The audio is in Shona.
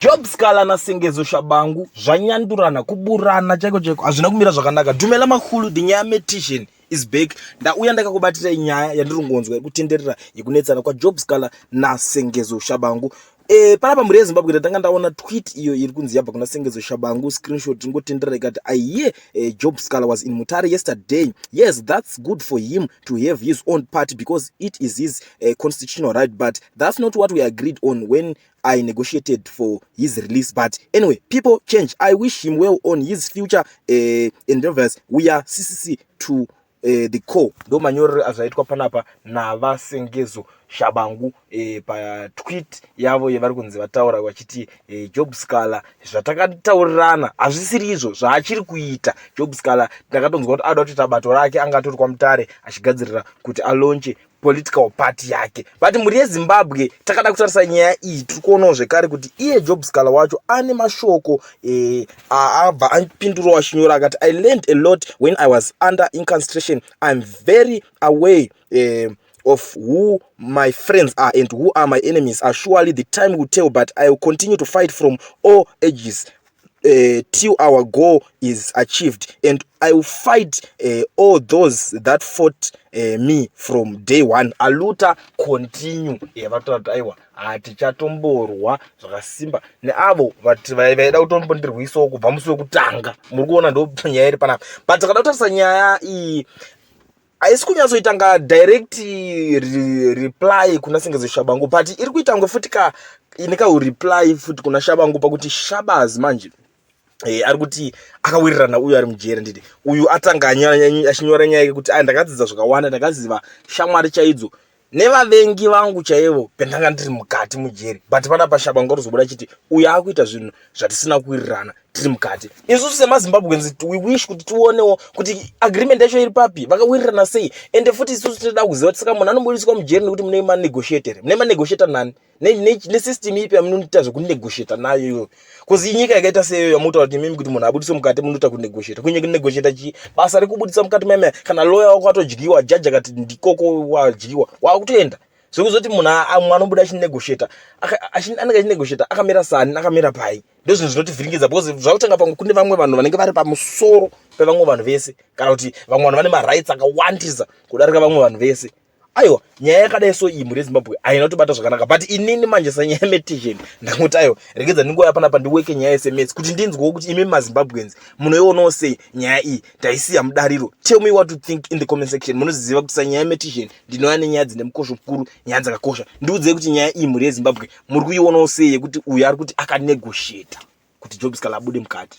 Job Scala na Sengezo Shabangu zvanyandurana kuburana chaiko chaiko hazvina kumira zvakanaka. Dumela Makhulu the nyaya metician is back. Ndauya ndakakubatirai nyaya yandiri kungonzwa yekutenderera yekunetsana kwa Job Scala na Sengezo Shabangu. Eh panapa mhuri yeZimbabwe ndatanga ndaona tweet iyo iri kunzi yabva kuna Sengezo Shabangu screenshot ingotenderera ikati I hear eh, Job Scala was in Mutare yesterday. Yes that's good for him to have his own party because it is his eh, constitutional right but that's not what we agreed on when I negotiated for his release but anyway people change I wish him well on his future uh, endeavors we are CCC to uh, the core ndo manyorero azvaitwa panapa navasengezo shabangu e, patwit yavo yevari kunzi vataura vachiti e, job scaler zvatakataurirana hazvisiri izvo zvaachiri kuita job scaler ndakatonzwa kuti ada kutoita bato rake anga atori kwamutare achigadzirira kuti alonche political party yake but mhuri yezimbabwe takada kutarisa nyaya iyi tiri kuonawo zvekare kuti iye job scala wacho ane mashoko eh, aabva apindurawo achinyora akati i learned a lot when i was under inconstration iam very away eh, of who my friends are and who are my enemies are surely the time will tell but i will continue to fight from all ages uh, till our goal is achieved and i will fight uh, all those that fought uh, me from day one aluta continue eh, vatoati aiwa hatichatomborwa zvakasimba neavo vati vaida kutombondirwisawo kubva musi wekutanga muri kuona ndonyaya iri panapa but takada kutarisa nyaya iyi haisi kunyatsoitanga direct re, reply kuna sengezo shabangu but iri kuitangwe futi ka ine kaureply futi kuna shabangu pakuti shabaz manje Hey, eh, ari kuti akawirirana uyu ari mujeri nditi uyu atanga achinyora nyaya yekuti ai ndakadzidza zvakawanda ndakaziva shamwari chaidzo nevavengi vangu chaivo pendanga ndiri mukati mujeri but pana pashaba ngorizobuda chiti uyo akuita zvinhu zvatisina kuwirirana tiri mukati isusu semazimbabweans we wish kuti tionewo kuti agreement yacho iri papi vakawirirana sei ende futi isusu tinoda kuziva tisaka munhu anobudiswa mujeri nekuti mune manegotiator mune manegotiator nani nesystem ipi yamunoita zvekunegotiata nayo iyoyo bcause inyika yakaita seyoyo yamunotaura kuti imimi kuti munhu abudiswe mukati munoita kunegotiata kunye kunegotiata chii basa rekubudisa mukati maimaya kana loya wako atodyiwa jaji akati ndikoko wadyiwa wakutoenda zvekuzoti munhu amwe anobuda achinegotiata anenge achinegotiata akamira sani akamira pai ndozvinhu zvinotivhiringidza bcause zvakutanga pamwe kune vamwe vanhu vanenge vari pamusoro pevamwe vanhu vese kana kuti vamwe vanhu vane marights akawandisa kudarika vamwe vanhu vese aiwa nyaya yakadai so iyi mhuri yezimbabwe haina kutobata zvakanaka but inini manje sanyaya metizhen ndangoti aiwa regedza ndingouya panapa ndiweke nyaya yesms kuti ndinzwewo kuti imi mazimbabweans munoionawo sei nyaya iyi taisiya mudariro tell me what to think in the comment section munoziziva kuti sanyaya metizhen ndinouya nenyaya dzine mukosho mukuru nyaya dzakakosha ndiudzei kuti nyaya iyi mhuri yezimbabwe muri kuionawo sei yekuti uyo ari kuti akanegosheta kuti jobs kala abude mukati